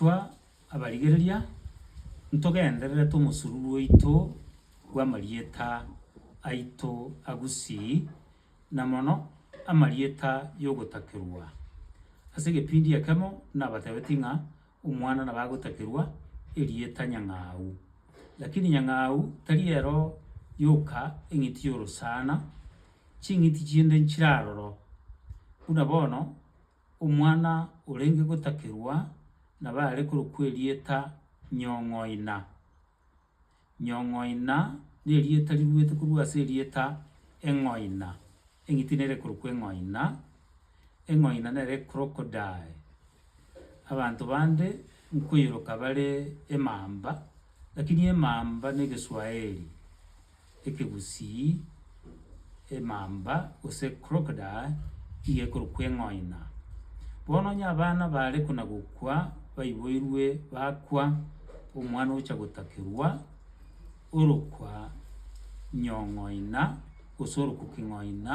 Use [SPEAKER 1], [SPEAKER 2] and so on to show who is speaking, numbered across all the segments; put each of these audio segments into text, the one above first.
[SPEAKER 1] Intwe abarigereria ntogenderere tomosururu oito bw'amarieta aito a Gusii, na mono amarieta y'ogotakerwa. Ase egepindi ekemo nabatebetie ng'a omwana nabo agotakerwa erieta Nyang'au. Lakini Nyang'au tari ero yoka eng'iti y'orosana, ching'iti chinde nchire aroro. Buna bono Omwana orenge gotakerwa nabe are korokwa erieta Nyong'oina. Nyong'oina nerieta riruete korwa ase erieta eng'oina, eng'iti nere korokwa eng'oina, eng'oina nere crocodile. Abanto bande nkoiroka bare emamba, lakini emamba negeswaeri, ekegusii, emamba, gose crocodile, iga ekorokwa eng'oina. Bono onye abana bare kona-gokwa baiboirwe bakwa, omwana ogocha gotakerwa orokwa nyong'oina, gose orokwa king'oina,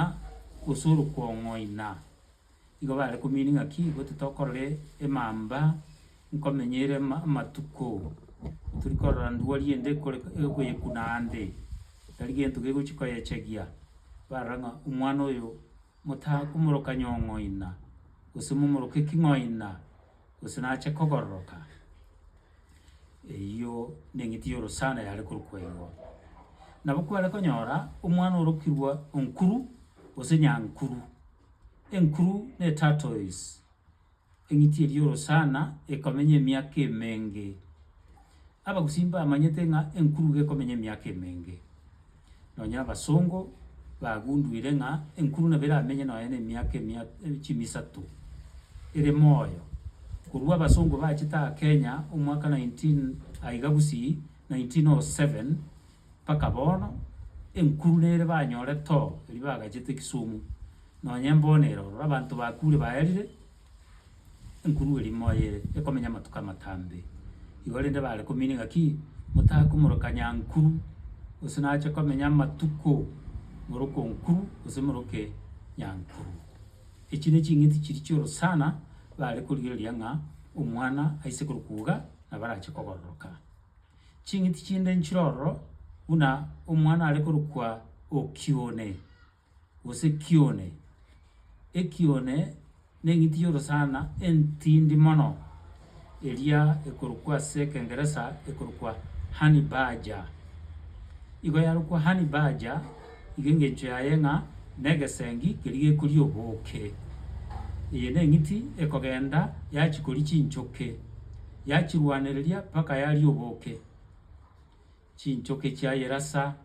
[SPEAKER 1] gose orokwa ong'oina, Igo bare komiini ng'aki goti tokorore emamba nkomenyeire amatuko tori korora ndwari ende ekore egoyekuna ande, tari gento gegochi koyechegia. Barora ng'a omwana oyo motakomoroka nyong'oina, gose momoroke eking'oina, gose nache kogororoka. Eyio neng'iti y'orosana yare korokwa igo. Nabo kware konyora omwana orokirwe onkuru gose nyankuru. Enkuru ne Tartoise, eng'iti eria Orosana ekomenya emiaka emenge. Abagusii mbamanyete ng'a enkuru gekomenya emiaka emenge. Nonya abasongo bagunduire ng'a enkuru nabo eramenye nonya na emiaka emia chimisato ere moyo. Korwa abasongo bachete aa Kenya omwaka 19 aiga gusii 1907, Mpaka bono enkuru nere banyore too erio bagachete Kisumu nonye mbono ere ororo abanto bakure baerire enkuru eria moyo ere ekomenya amatuko amatambe igo rende bare kominia ng'aki motakomoroka nyankuru gose nache komenya amatuko moroko nkuru gose moroke nyankuru. Echi ne ching'iti chiria chioro sana bare korigereria ng'a omwana aise korokwa iga nabo arache kogororoka. Ching'iti chinde nchire ororo buna omwana are korokwa okione, gose kione. Ekione neng'iti y'orosana entindi mono, eria ekorokwa ase ekengeresa ekorokwa honey badger. Igo yarokwa honey badger. Iga engechio yaye ng'a negesengi keria gekoria oboke. Eye neng'iti ekogenda yachikoria chinchoke, yachirwanereria mpaka yaria oboke. Chinchoke chiayerasa,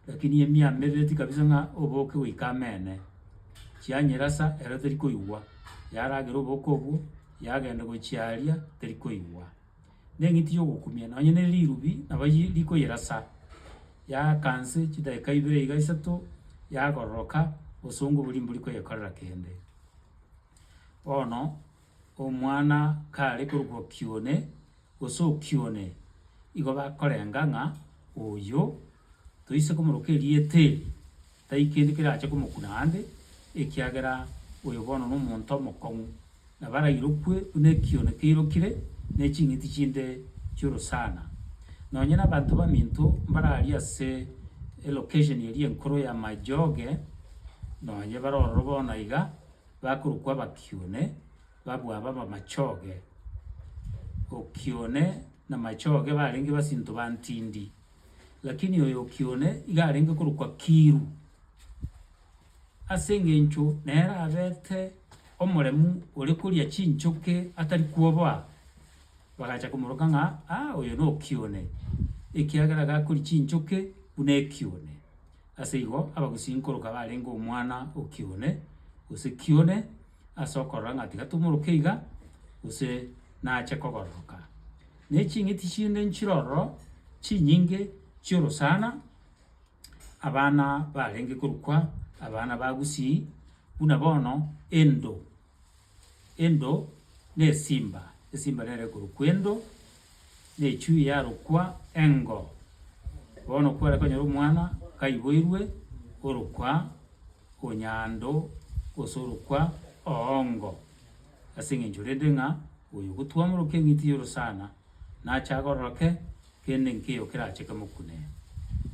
[SPEAKER 1] lakini emia merereti kabisa ng'a oboke goika amene. Chianyerasa ero terikoigwa, yaragera oboke obwo, yagenda gochiaria terikoigwa. Neng'iti yogokumia nonye ne rirubi nabo yi rikoyerasa, yaaka nse chidakika ibere iga isato, yagororoka, obosongo boria mbori koyekorera kende. Bono omwana kare korokwa kione gose okione, igo bakorenga ng'a oyio toise komoroka erieta eri. Tari kende kerache komokuna aande, ekiagera oyo bono nomonto omokong'u, na barairokwe buna ekione keirokire ne ching'iti chinde chi'orosana. Nonya nabanto baminto mbararie ase elocation eria enkoro ya Majooge, nonya bare ororo bono iga, bakorokwa abakione, babua abe abamachooge. Okione na machooge barenge basinto bantindi. Lakini oyo o Kione iga arenge korokwa Kiru, ase engencho nere abete omoremu ore koria chinchoke atari kwoboa. Bagacha komoroka ng'a aa oyo no Kione, ekiagera iga akoria chinchoke buna ekione. Ase igo abagusii nkoroka barenge omwana o Kione, gose Kione, ase okorora ng'a tiga tomoroke iga, gose nache kogororoka. Ne ching'iti chinde nchire ororo, chinyinge chi'orosana, abana barenge korukwa abana ba Gusii, buna bono Endo, Endo nesimba, esimba nere korokwa Endo, na echui yarokwa Engo. Bono kware konyora omwana kaiboirwe orokwa Onyando, gose orokwa Oongo. Ase engencho rende ng'a oyo ogotuamorokia eng'iti y'orosana nache agororoke, kende nkeiyo kerache kemokune.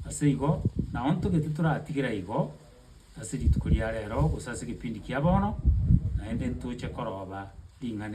[SPEAKER 1] Ase igo naontogete toratigere aigo ase rituko ria reero gose ase ekepindi kia bono, naende ntoche koroba ring'ana eri.